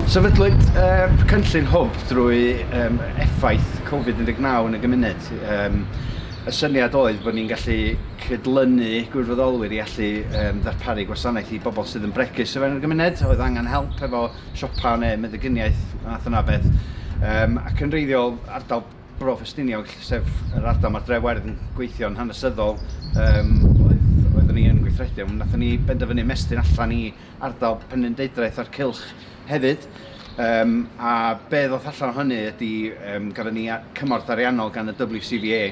Sefydlwyd er, cynllun hwb drwy um, effaith Covid-19 yn y gymuned. Um, y syniad oedd bod ni'n gallu cydlynu gwirfoddolwyr i allu um, ddarparu gwasanaeth i bobl sydd yn bregus o fewn y gymuned, oedd angen help efo siopa neu meddygyniaeth, math yna beth. Um, ac yn reiddiol, ardal Bro Ffestiniog, sef yr ardal mae'r dre werdd yn gweithio yn hanesyddol, um, oedd, oeddwn ni yn gweithredu, ond nathon ni benderfynu mestyn allan i ardal Penrhyn Deidraeth a'r Cylch hefyd. Um, a be ddoth allan o hynny ydy, um, gyda ni cymorth ariannol gan y WCVA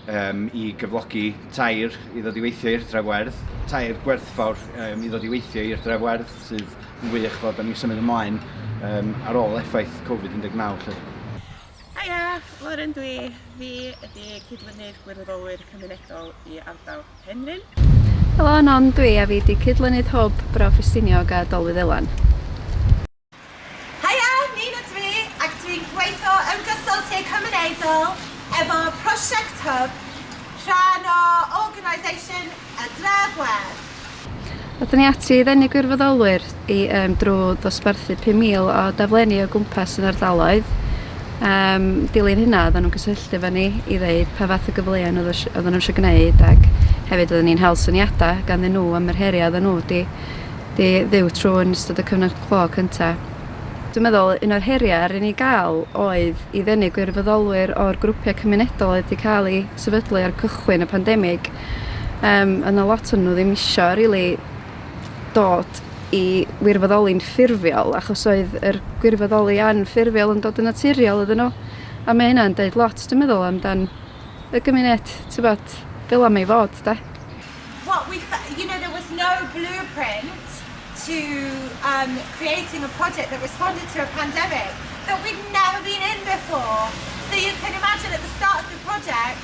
um, i gyflogi tair i ddod i weithio i'r dref werdd, tair gwerthfawr um, i ddod i weithio i'r dref werdd sydd yn wych fod ni'n symud ymlaen um, ar ôl effaith Covid-19. Haia! Lauren dwi. Fi ydi cydlynydd gwirfoddolwyr cymunedol i ardal Penrhyn. Helo, Non dwi a fi di cydlynydd hwb Bro Ffestiniog a Dolwyddelan. Haia! Nina dwi ac dwi'n gweithio yn gysylltiad cymunedol efo prosiect hwb, rhan o organisation A dra gwell! Aethon ni ati i ddenu gwirfoddolwyr i um, drwy ddosbarthu 5,000 o daflenni o gwmpas yn ardaloedd. Um, dilyn hynna, oedden nhw'n cysylltu efo ni i ddeud pa fath o gyfleon oedden nhw eisiau gwneud ac hefyd oedden ni'n hel syniadau ganddyn nhw am yr heriau oedden nhw di, di ddiw trwy yn ystod y cyfnod clo cyntaf. Dwi'n meddwl un o'r heriau ar ni gael oedd i ddenu gwirfoddolwyr o'r grwpiau cymunedol oedd wedi cael eu sefydlu ar cychwyn y pandemig Yym a na lot o'n nhw ddim isio rili dod i wirfoddoli'n ffurfiol achos oedd yr gwirfoddoli anffurfiol yn dod yn naturiol iddyn nhw. A mae hynna'n deud lot dwi'n meddwl amdan y gymuned t'bod fel 'a mae i fod 'de? what we you know there was no blueprint to um, creating a project that responded to a pandemic that we'd never been in before. So you can imagine at the start of the project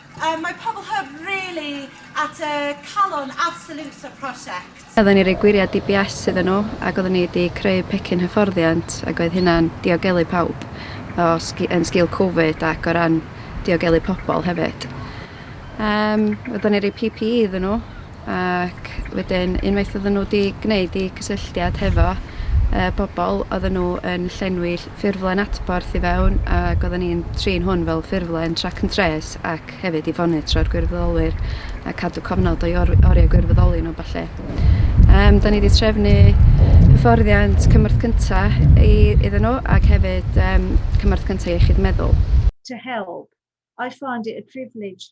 Yy mae pobl hyf rili at y calon absolute o'r prosiect. Oedden ni roi gwyriad DBS iddyn nhw ac oedden ni di creu pecyn hyfforddiant ac oedd hynna'n diogelu pawb o sgi- yn sgil covid ac o ran diogelu pobl hefyd. Yym oedden ni roi PPE iddyn nhw. ac wedyn unwaith oedden nhw 'di gwneud eu cysylltiad hefo yy bobl oedden nhw yn llenwi ll- ffurflen adborth i fewn ac oedden ni'n trin hwn fel ffurflen track and trace ac hefyd i fonitro'r gwirfoddolwyr a cadw cofnod o'i or- oriau gwirfoddoli nhw a ballu. Yym 'dan ni 'di trefnu hyfforddiant cymorth cynta i iddyn nhw ac hefyd yym cymorth cynta iechyd meddwl. to help. I find it a privilege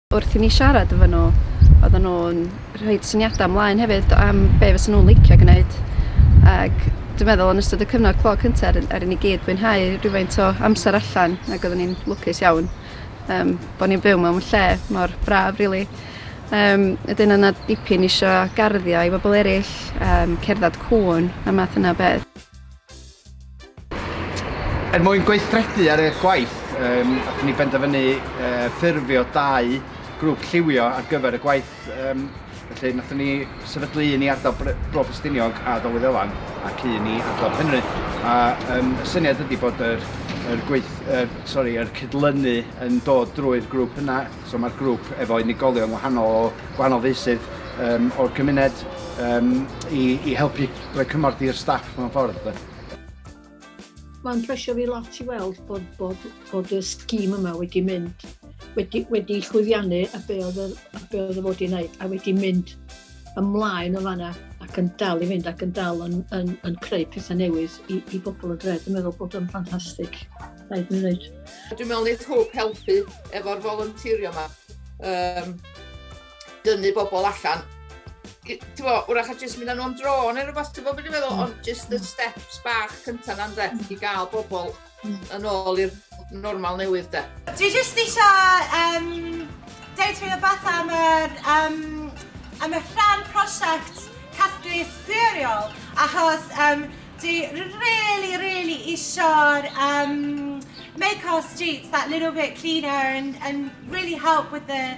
Wrth i ni siarad efo nhw, oedden nhw'n rhoid syniadau ymlaen hefyd am be fysa nhw'n licio gwneud. Ac dwi'n meddwl yn ystod y cyfnod clo cynta' ar ar i ni gyd fwynhau rhywfaint o amser allan ac oedden ni'n lwcus iawn um, bod ni'n byw mewn lle mor braf rili. Really. Um, ydyn yna dipyn eisiau garddio i bobl eraill, um, cerdded cwn a math yna beth. Er mwyn gweithredu ar eich gwaith, um, allwn ni benderfynu uh, ffurfio dau grŵp lliwio ar gyfer y gwaith. Um, felly, nathon ni sefydlu un i ardal Bro Ffestiniog a Dowydd Elan ac un i ardal Penrhyn. A um, y syniad ydy bod yr, yr, gweith, yr, sorry, yr cydlynu yn dod drwy'r grŵp yna. So mae'r grŵp efo unigolion wahanol o gwahanol feysydd um, o'r gymuned um, i, i helpu Rhoi cymorth i'r staff mewn ffordd de. Mae'n plesio fi lot i weld bod, bod, bod y scheme yma wedi mynd, wedi, wedi llwyddiannu a be oedd y, a be oedd y fod i wneud, a wedi mynd ymlaen o fanna ac yn dal i fynd ac yn dal yn, yn, yn creu pethau newydd i, i bobl y dre. Dwi'n meddwl bod o'n ffantastig, rhaid mi ddweud. Dwi'n meddwl wneud hwb helpu efo'r volunteerio yma. Um, dynnu bobl allan, ti'n fo, wrach a jyst mynd â nhw am dro neu rhywbeth, ti'n fo beth i'n meddwl, mm. ond jyst y mm. steps bach cyntaf na'n dre, i gael bobl mm. yn ôl i'r normal newydd de. Dwi jyst eisiau um, deud rhywbeth o beth am yr, um, am y rhan prosiect casglu sbwriol, achos um, dwi really, really eisiau'r um, make our streets that little bit cleaner and, and really help with the